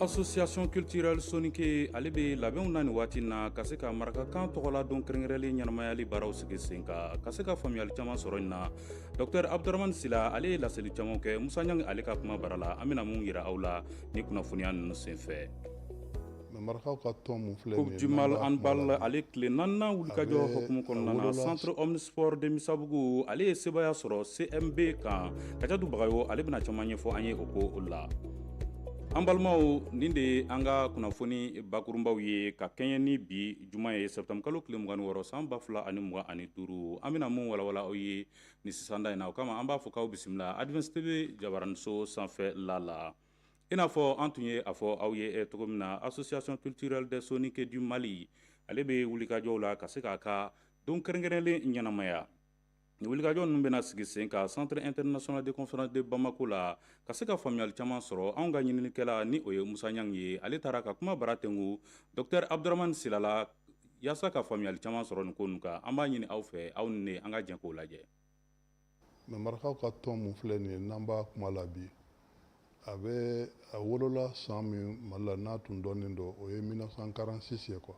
Association culturelle Soninke ale bɛ labɛnw na nin waati in na ka se ka marakakan tɔgɔladon kɛrɛnkɛrɛnlen ɲɛnamayali baaraw sigi sen kan ka se ka faamuyali caman sɔrɔ nin na Docteur Abudramani Sila ale ye laseli caman kɛ Musa Ɲangi ale ka kuma bara la an bɛna mun yira aw la ni kunnafoniya ninnu senfɛ. Coupe du Mali handball ale tile naaninan wulikajɔ hokumu kɔnɔna na Centre Omnisport de Misabugu ale ye sebaaya sɔrɔ CMB kan Kajatu Bagayogo ale bɛna caman ɲɛfɔ an ye o ko o la. An balimaw nin de ye an ka kunnafoni bakurunbaw ye ka kɛɲɛ ni bi juma ye septembre kalo tile mugan ni wɔɔrɔ san ba fila ani mugan ani duuru an bɛna mun walawala aw ye ni sisanda in na o kama an b'a fɔ k'aw bisimila Advance TV jabaraniso sanfɛ la la i n'a fɔ an tun ye a fɔ aw ye e cogo min na Association culturelle des Soninke du Mali ale bɛ wulikajɔw la ka se k'a ka don kɛrɛnkɛrɛnnen ɲɛnamaya Nin wulikajɔ ninnu bɛna sigi sen kan centre international de conférence de Bamako la ka se ka faamuyali caman sɔrɔ anw ka ɲininikɛla ni o ye Musa Ɲangi ye ale taara ka kuma bara tɛngu docteur Abudaramani Sila la yaasa ka faamuyali caman sɔrɔ nin ko ninnu kan an b'a ɲini aw fɛ aw ni ne an ka jɛn k'o lajɛ. Mais marakaw ka tɔn mun filɛ nin ye n'an b'a kuma la bi a bɛ a wolola san min Mali la n'a tun dɔnnen don o ye 1946 ye quoi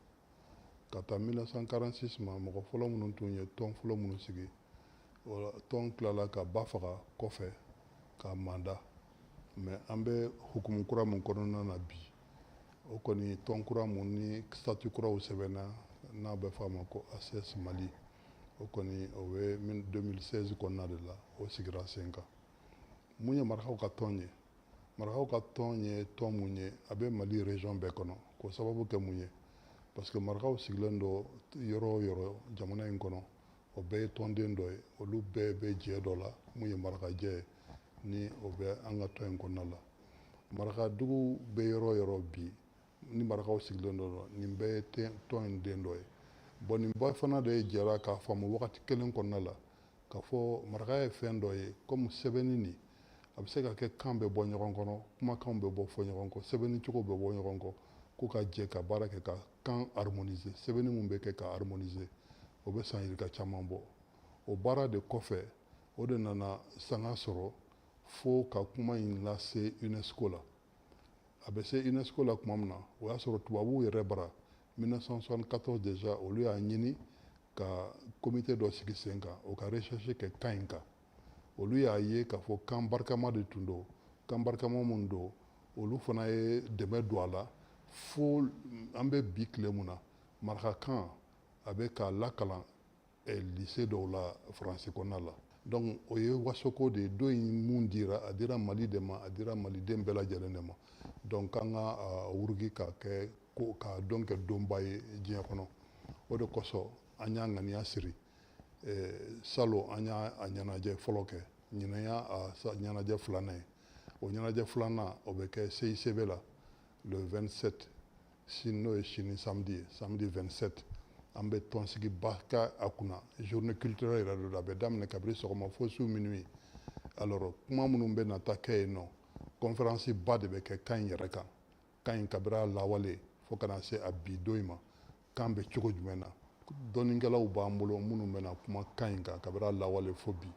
ka taa 1946 ma mɔgɔ fɔlɔ minnu tun ye tɔn fɔlɔ minnu sigi tɔn tilala ka ba faga kɔfɛ ka manda mais an bɛ hukumu kura min kɔnɔna na bi o kɔni tɔn kura mun ni statut kuraw sɛbɛnna n'a bɛ fɔ a ma ko ACS Mali o kɔni o bɛ 2016 kɔnɔna de la o sigira sen kan mun ye marakaw ka tɔn ye marakaw ka tɔn ye tɔn mun ye a bɛ mali région bɛɛ kɔnɔ k'o sababu kɛ mun ye parce que marakaw sigilen don yɔrɔ o yɔrɔ jamana in kɔnɔ o bɛɛ ye tɔnden dɔ ye olu bɛɛ bɛ jɛ dɔ la mun ye marakajɛ ye ni o bɛ an ka tɔn in kɔnɔna la marakadugu bɛ yɔrɔ o yɔrɔ bi ni marakaw sigilen don nin bɛɛ ye tɔn in den dɔ ye bon nin bɛɛ fana de jɛra k'a faamu wagati kelen kɔnɔna la k'a fɔ maraka ye fɛn dɔ ye kɔmi sɛbɛnni nin a bɛ se ka kɛ kan bɛ bɔ ɲɔgɔn kɔnɔ kumakanw bɛ bɔ fɔ ɲɔgɔn kɔ sɛbɛnni cogo bɛ bɔ ɲɔgɔn kɔ k'u ka jɛ ka baara kɛ ka kan harmoniser sɛbɛnni mun bɛ kɛ ka harmoniser o bɛ san yirika caman bɔ o baara de kɔfɛ o de nana sanga sɔrɔ fo ka kuma in lase unesco la a bɛ se unesco la tuma min na o y'a sɔrɔ tubabuw yɛrɛ bara 1974 déjà olu y'a ɲini ka comité dɔ sigi sen kan o ka recherche kɛ kan in kan olu y'a ye k'a fɔ kan barikama de tun don kan barikama min don olu fana ye dɛmɛ don a la fo an bɛ bi tile mun na marakakan a bɛ ka lakalan eh, lycée dɔw la faransi kɔnɔna la donc o ye wasoko de ye don in mun dira a dira mali de ma a dira maliden bɛɛ lajɛlen de ma donc k'an ka ah, wuruki ka kɛ k'a don kɛ donba ye diɲɛ kɔnɔ o de kosɔn an y'a ŋaniya siri eh, salon an y'a a ɲɛnajɛ fɔlɔ kɛ ɲinan y'a a ɲɛnajɛ filanan ye o ɲɛnajɛ filanan o bɛ kɛ CICB la le 27 sini n'o ye sini samedi ye samedi 27 an bɛ tɔnsigiba kɛ a kunna journée culturelle yɛrɛ don a bɛ daminɛ kabiri sɔgɔma fo su minuit alors kuma minnu bɛna taa kɛ yen nɔ conférence ba de bɛ kɛ kan in yɛrɛ kan kan in kabiri a lawale fo ka na se a bi don in ma kan bɛ cogo jumɛn na dɔnnikɛlaw b'an bolo minnu bɛna kuma kan in kan kabiri a lawale fo bi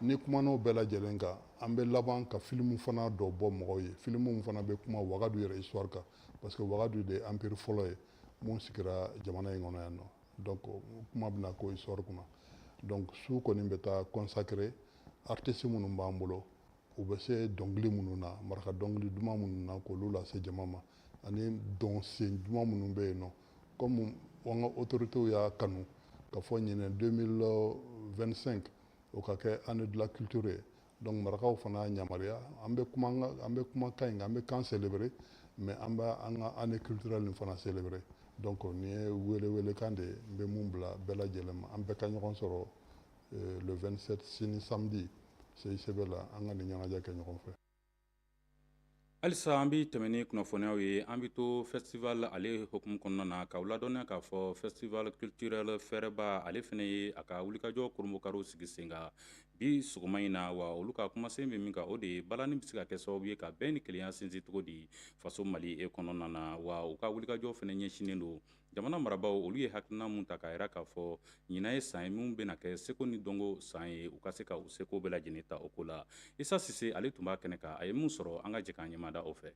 ni kuman'o bɛɛ lajɛlen kan an bɛ laban ka filimu fana dɔ bɔ mɔgɔw ye filimu min fana bɛ kuma wagadu yɛrɛ histoire kan parce que wagadu de empire fɔlɔ ye mun sigira jamana in kɔnɔ yan nɔ donc kuma bɛna k'o histoire kunna donc su kɔni bɛ taa consacrer artiste minnu b'an bolo u bɛ se dɔnkili minnu na maraka dɔnkili duman minnu na k'olu lase jama ma ani dɔnsen duman minnu bɛ yen nɔ comme an ka autorités y'a kanu k'a fɔ ɲinɛ 2025 o ka kɛ année de la culture ye donc marakaw fana y'a yamaruya an bɛ kuma an bɛ kuma kan in kan an bɛ kan célébrer mais an bɛ an ka année culturelle nin fana célébrer donc nin ye weeleweelekan de ye n bɛ mun bila bɛɛ lajɛlen ma an bɛɛ ka ɲɔgɔn sɔrɔ euh, le 27 sini samedi CICB la an ka nin ɲɛnajɛ kɛ ɲɔgɔn fɛ halisa an bɛ tɛmɛn ni kunnafoniyaw ye an bɛ to festival ale hukumu kɔnɔna na k'aw ladɔnniya k'a fɔ festival culturel fɛrɛba ale fana ye a ka wulikajɔ kurunbonkari sigi sen kan bi sɔgɔma in na wa olu ka kumasen bɛ min kan o de ye balani bɛ se ka kɛ sababu ye ka bɛn ni kelenya sinsin cogo di faso mali e kɔnɔna na wa u ka wulikajɔ fana ɲɛsinnen don Jamana marabaaw olu ye hakilina mun ta k'a jira k'a fɔ ɲinan ye san ye min bɛna kɛ seko ni dɔnko san ye u ka se ka u seko bɛɛ lajɛlen ta o ko la isa sise ale tun b'a kɛnɛ kan a ye mun sɔrɔ an ka jɛ k'an ɲɛmada o fɛ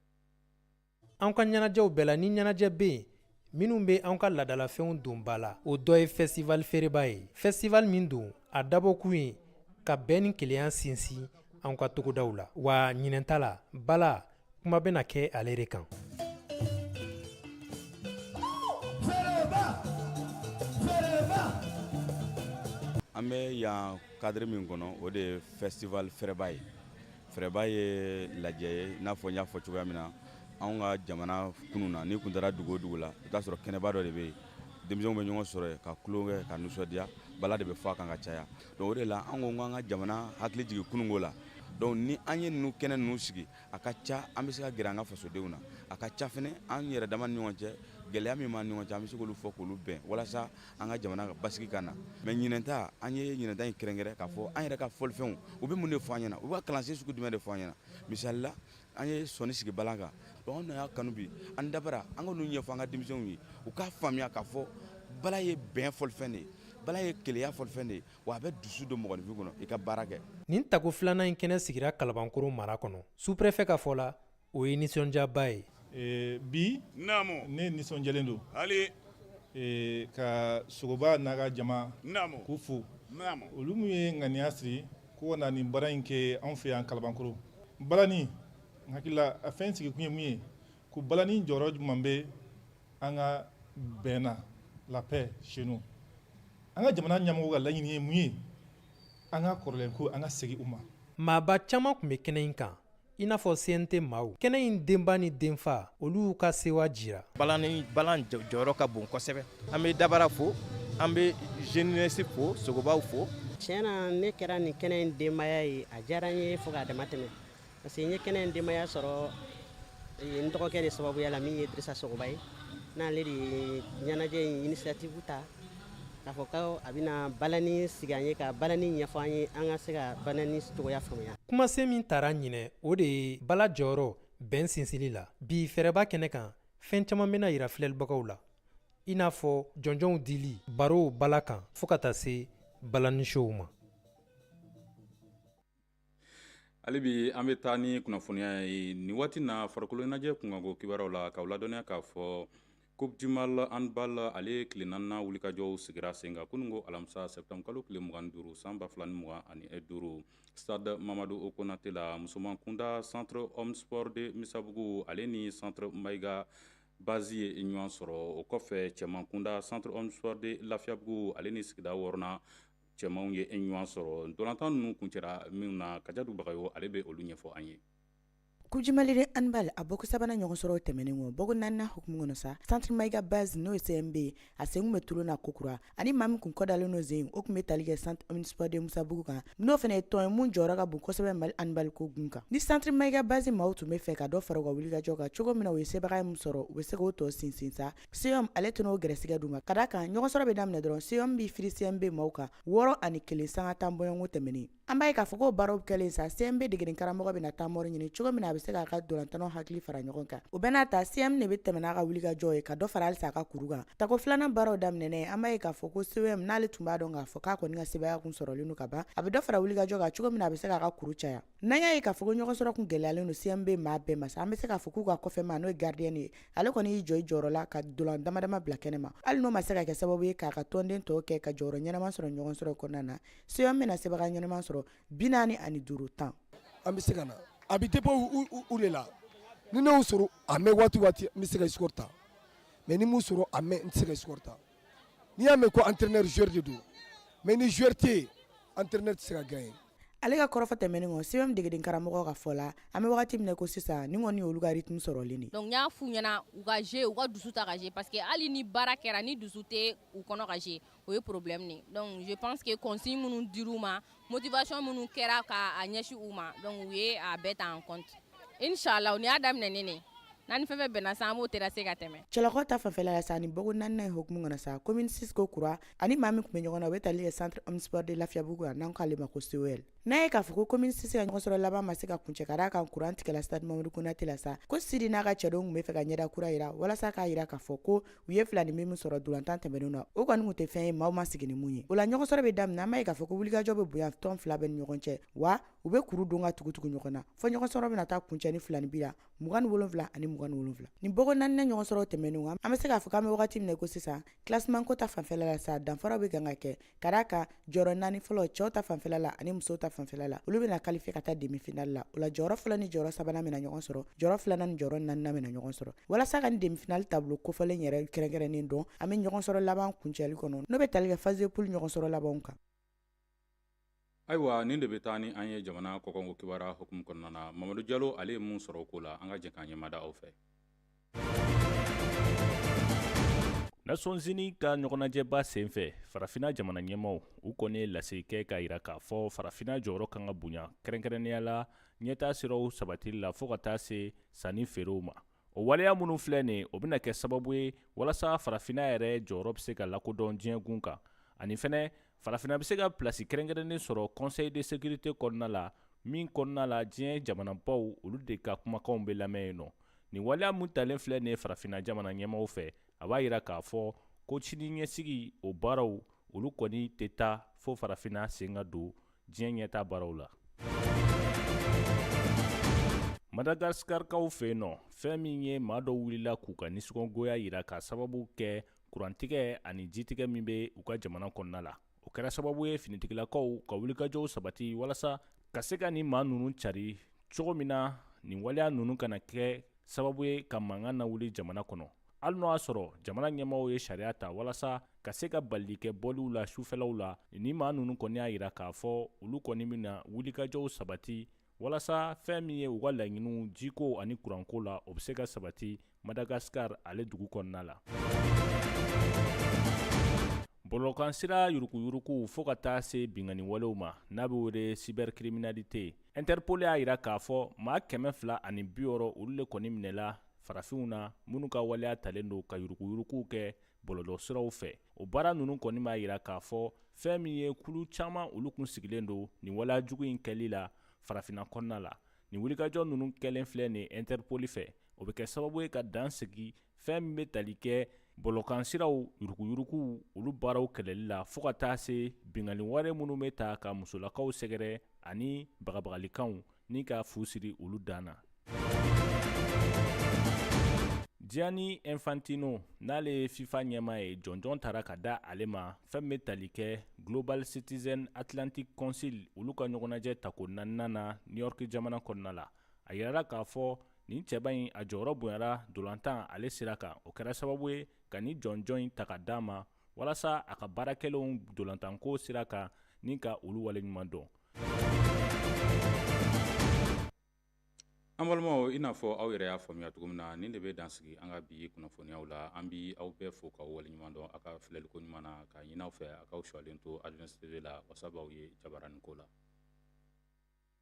an ka ɲɛnajɛw bɛɛ la ni ɲɛnajɛ bɛ yen minnu bɛ an ka ladalafɛnw don ba la o dɔ ye festival fɛrɛba ye festival min don a dabɔkun ye ka bɛn ni kelenya sinsin an ka togodaw la wa ɲinɛn ta la bala kuma bɛna kɛ ale de kan an bɛ yan cadre min kɔnɔ o de ye festival fɛrɛba ye fɛrɛba ye lajɛ ye n'a fɔ n y'a fɔ cogoya min na anw ka jamana kunun na n'i kun taara dugu o dugu la i t'a sɔrɔ kɛnɛba dɔ de bɛ yen denmisɛnw bɛ ɲɔgɔn sɔrɔ yen ka tulon kɛ ka nisɔndiya bala de bɛ fɔ a kan ka caya Donc o de la an ko k'an ka jamana hakili jigin kununko la donc ni an ye ninnu kɛnɛ ninnu sigi a ka ca an bɛ se ka gɛrɛ an ka fasodenw na a ka ca fɛnɛ an yɛrɛ dama ni ɲɔgɔn cɛ gɛlɛya min b'an ni ɲɔgɔn cɛ an bɛ se k'olu fɔ k'olu bɛn walasa an ka jamana ka basigi ka na mais ɲinɛnta an ye ɲinɛnta in kɛrɛnkɛrɛn k'a fɔ an yɛrɛ ka fɔlifɛnw u bɛ mun de fɔ an ɲɛna u bɛ ka kalansen sugu jumɛn de fɔ an ɲɛna misali la an ye sɔni sigi bala kan donc anw y'a kanu bi an dabara an ka ninnu ɲɛfɔ an ka denmisɛnw ye u k'a faamuya k'a fɔ bala ye bɛn fɔlifɛn de ye bala ye kelenya fɔlifɛn de ye wa a bɛ dusu don mɔgɔninfin kɔnɔ i ka baara kɛ nin tako filanan in kɛnɛ sigira kalabankoro mara kɔnɔ sous-préfet ka fɔ la o ye nisɔndiyaba ye eh, bi naamu ne nisɔndiyalen don haali eh, ka sogoba n'a ka jama naamu k'u fo naamu olu min ye ŋaniya siri ko ka na nin baara in kɛ anw fɛ yan kalabankoro balani n hakili la a fɛn sigikun ye mun ye ko balani jɔyɔrɔ jumɛn bɛ an ka bɛn na la paix chez nous an ka jamana ɲɛmɔgɔw ka laɲini ye mun ye an ka kɔrɔlen ko an ka segin u ma maaba caman tun bɛ kɛnɛ in kan i n'a fɔ CNT maaw kɛnɛ in denba ni denfa olu y'u ka sewa jira balani balan jɔyɔrɔ ka bon kosɛbɛ an be dabara fo an be jeunesse fo sogobaw fo tiɲɛ na ne kɛra nin kɛnɛ in denbaya ye a diyara n ye fo k'a dama tɛmɛ parce que n ye kɛnɛ in denbaya sɔrɔ eh, n dɔgɔkɛ de sababuya la min ye dirisa sogoba ye n'ale de ye ɲɛnajɛ in initiative ta k'a fɔ ko a bɛna balani sigi an ye ka balani ɲɛfɔ an ye an ka se ka balani cogoya faamuya kumasen min tara ɲinɛ o de ye bala jɔyɔrɔ bɛn sinsinli la bi fɛrɛba kɛnɛ kan fɛn caman bɛna yira filɛlibagaw la i n'a fɔ jɔnjɔnw dili barow bala kan fo ka taa se balani show ma hali bi an bɛ taa ni kunnafoniya ye nin waati na farikolo ɲɛnajɛ kunkanko kibaruyaw la k'aw ladɔnniya k'a fɔ coupe du mali handball ale tile naaninan wulikajɔw sigira sen kan kunun ko alamisa septembre kalo tile mugan ni duuru san ba fila ni mugan ani duuru stade mamadu konate la musoman kunda centre omnisport de misabugu ale ni centre mayiga bazi ye ɲɔgɔn sɔrɔ o kɔfɛ cɛman kunda centre omnisport de lafiyabugu ale ni sigida wɔɔrɔnan cɛmanw ye ɲɔgɔn sɔrɔ ntolatan ninnu kuncɛra min na kajatu bagayo ale bɛ olu ɲɛfɔ an ye coupe du mali de handball a bɔko sabanan ɲɔgɔn sɔrɔ tɛmɛnen kɔ bɔko naaninan hukumu kɔnɔ sa centre mayiga bazi n'o ye CMB a sen tun bɛ tulon na kokura ani maa min kun kɔdalen n'o sen o tun bɛ tali kɛ centre omnisport de misabugu kan n'o fana ye tɔn ye min jɔyɔrɔ ka bon kosɛbɛ mali handball ko gun kan ni centre mayiga bazi maaw tun bɛ fɛ ka dɔ fara u ka wulikajɔ kan cogo min na u ye sebagaya min sɔrɔ u bɛ se k'o tɔ sinsin sa CM ale tɛna o gɛrɛsɛgɛ d'u ma ka da kan ɲɔgɔn sɔrɔ bɛ daminɛ dɔrɔn CM b'i firi CMB maaw kan wɔɔrɔ ani kelen sanga tan bɔɲɔgɔnko tɛmɛnen an b'a ye k'a fɔ ko baaraw kɛlen sa CMB degeden karamɔgɔ bɛna temps mort ɲini cogo min na a bɛ se k'a ka dolantannaw hakili fara ɲɔgɔn kan o bɛɛ n'a ta CM de bɛ tɛmɛ n'a ka wulikajɔ ye ka dɔ fara halisa a ka kuru kan tako filanan baaraw daminɛnen an b'a ye k'a fɔ ko CM n'ale tun b'a dɔn k'a fɔ k'a kɔni ka sebaya kun sɔrɔlen don ka ban a bɛ dɔ fara wulikajɔ kan cogo min na a bɛ se k'a ka kuru caya N'an y'a ye k'a fɔ ko ɲɔgɔn sɔrɔ tun gɛlɛyalen don CMB maa bɛɛ ma sa an bɛ se k'a fɔ k'u ka kɔfɛ maa n'o ye gardien ye ale kɔni y'i jɔ i jɔyɔrɔ la ka dolan damadama bila kɛnɛ ma hali n'o ma se ka kɛ sababu ye k'a ka tɔnden tɔw kɛ ka jɔyɔrɔ ɲɛnama sɔrɔ ɲɔgɔn sɔrɔ kɔnɔna na CM bɛna sebaya ɲɛnama sɔrɔ bi naani ani duuru tan an bɛ se ka na a bɛ dépend u de la ni ne y'u sɔrɔ a mɛn waati n bɛ se ka score ta mais ni m'u sɔrɔ a mɛn n tɛ se ka score ta n'i y'a mɛn ko entraîneur joueur de don mais ni joueur tɛ yen entraîneur tɛ se ka gagner ale ka kɔrɔfɔ tɛmɛnen kɔ CM degeden karamɔgɔ ka fɔ la an bɛ wagati min na ko sisan nin kɔni olu ka rythme sɔrɔlen de ye donc n y'a f'u ɲɛna u ka jeu u ka dusu ta ka jeu parce que hali ni baara kɛra ni dusu tɛ u kɔnɔ ka jeu o ye problème de ye donc je pense que consigne minnu dir'u ma motivation minnu kɛra k'a ɲɛsin u ma donc u ye a bɛɛ ta en compte inshallah u ni y'a daminɛ ne ne n'an ni fɛn fɛn bɛnna sa an b'o terrasser ka tɛmɛ cɛlakaw ta fanfɛla la sa ni bɔko naaninan ye hukumu kɔnɔ sa commune six ko kura ani maa min tun bɛ ɲɔgɔn na o bɛ tali kɛ centre omnisport de lafiyabugu la n'an k'ale ma ko COL n'a ye k'a fɔ ko commune six ka ɲɔgɔnsɔrɔ laban ma se ka kuncɛ ka d'a kan kuran tigɛla stade mamadu konate la sa ko sidi n'a ka cɛdenw tun b'a fɛ ka ɲɛda kura yira walasa k'a yira k'a fɔ ko u ye filaninbin min sɔrɔ dolantan tɛmɛnenw na o kɔni tun tɛ fɛn ye maaw ma sigi ni min ye o la ɲɔgɔnsɔrɔ bɛ daminɛ an b'a ye k'a fɔ ko wulikajɔ bɛ bonya tɔn fila bɛɛ ni ɲɔgɔn cɛ wa u bɛ kuru don ka tugutugu ɲɔgɔn na fɔ ɲɔgɔnsɔrɔ bɛna taa kuncɛ ni filaninbin la mugan ni wolonfila ani mugan ni wolonfila nin bɔko naaninan ɲɔgɔnsɔrɔ tɛmɛnenw an bɛ se k'a fɔ k'an bɛ wagati min na ko sisan kilasimanko ta fanfɛla la sa danfaraw bɛ kan ka kɛ Ka d'a kan jɔyɔrɔ 4 fɔlɔ cɛw ta fanfɛla la ani musow ta fanfɛla la olu bɛna qualifier ka taa demi finale la o la jɔyɔrɔ fɔlɔ ni jɔyɔrɔ sabanan bɛna ɲɔgɔn sɔrɔ jɔyɔrɔ filanan ni jɔyɔrɔ naaninan bɛna ɲɔgɔn sɔrɔ walasa ka nin demi finale tableau kofɔlen yɛrɛ kɛrɛnkɛrɛnnen dɔn an bɛ ɲɔgɔn sɔrɔ laban kuncɛli kɔnɔ n'o bɛ tali kɛ phase de poule ɲɔgɔn sɔrɔ labanw kan ayiwa nin de bɛ taa ni an ye jamana kɔkanko kibaruya hukumu kɔnɔna na mamadu jalo ale ye mun sɔrɔ o ko la an ka jɛ k'an ɲɛmada aw fɛ Nations Unies ka ɲɔgɔnajɛba senfɛ farafina jamana ɲɛmaaw u kɔni ye lase kɛ k'a yira k'a fɔ farafina jɔyɔrɔ kan ka bonya kɛrɛnkɛrɛnnenya la ɲɛtaa siraw sabatili la fɔɔ ka taa se sanni feerew ma o waleya minnu filɛ nin o bɛna kɛ sababu ye walasa farafinna yɛrɛ jɔyɔrɔ bɛ se ka lakodɔn diɲɛgun kan ani fɛnɛ farafinna bɛ se ka pilasi kɛrɛnkɛrɛnnen sɔrɔ conseil de sécurité kɔnɔna la min kɔnɔna la diɲɛ jamanabaw olu de ka kumakanw bɛ lamɛn yen nɔ nin waleya min talen filɛ nin ye farafinna jamana ɲɛmaaw fɛ a b'a yira k'a fɔ ko sini ɲɛsigi o baaraw olu kɔni tɛ taa fo farafinna sen ka don diɲɛ ɲɛtaa baaraw la madagaskarikaw fɛ yen nɔ fɛn min ye maa dɔ wulila k'u ka nisɔngoya yira ka sababu kɛ kurantigɛ ani jitigɛ min bɛ u ka jamana kɔnɔna la o kɛra sababu ye finitigilakaw ka wulikajɔw sabati walasa ka se ka ni maa ninnu cari cogo min na nin waleya ninnu kana kɛ sababu ye ka mankan nawuli jamana kɔnɔ hali n'o y'a sɔrɔ jamana ɲɛmɔgɔw ye sariya ta walasa ka se ka balili kɛ bɔliw la sufɛlaw la ni maa ninnu kɔni y'a jira k'a fɔ olu kɔni bɛna wulikajɔw sabati walasa fɛn min ye u ka laɲiniw jiko ani kuranko la o bɛ se ka sabati madagascar ale dugu kɔnɔna la bɔlɔlɔkansira yurukuyurukuw fo ka taa se binkanni walew ma n'a bɛ wele cybercriminalité Interpol y'a jira k'a fɔ maa kɛmɛ fila ani bi wɔɔrɔ olu de kɔni minɛla farafinw na minnu ka waleya talen don ka yuruguyuruguw kɛ bɔlɔlɔsiraw fɛ o baara ninnu kɔni b'a jira k'a fɔ fɛn min ye kulu caman olu kun sigilen don nin waleya jugu in kɛli la farafinna kɔnɔna la nin wulikajɔ ninnu kɛlen filɛ nin Interpol fɛ o bɛ kɛ sababu ye ka dan sigi fɛn min bɛ tali kɛ bɔlɔkansiraw yuruguyuruguw olu baaraw kɛlɛli la fo ka taa se binkanni wale minnu bɛ ta ka musolakaw sɛgɛrɛ ani bagabagalikanw ni ka fu siri olu dan na Gianni Infantino n'ale ye FIFA ɲɛmaa ye jɔnjɔn tara ka da ale ma fɛn min bɛ tali kɛ Global Citizen Atlantic Council olu ka ɲɔgɔnnajɛ tako naaninan na New York jamana kɔnɔna la a yirala k'a fɔ nin cɛba in a jɔyɔrɔ bonyara dolantan ale sira kan o kɛra sababu ye ka ni jɔnjɔn in ta ka d'a ma walasa a ka baarakɛlenw dolantanko sira kan ni ka olu waleɲuman dɔn an balimaw i n'a fɔ aw yɛrɛ y'a faamuya cogo min na nin de bɛ dan sigi an ka bi kunnafoniyaw la an b'aw bɛɛ fo k'aw waleɲuman dɔn a ka filɛliko ɲuman na k'a ɲini aw fɛ a k'aw sɔlen to Advens TV la wasa b'aw ye jabarani ko la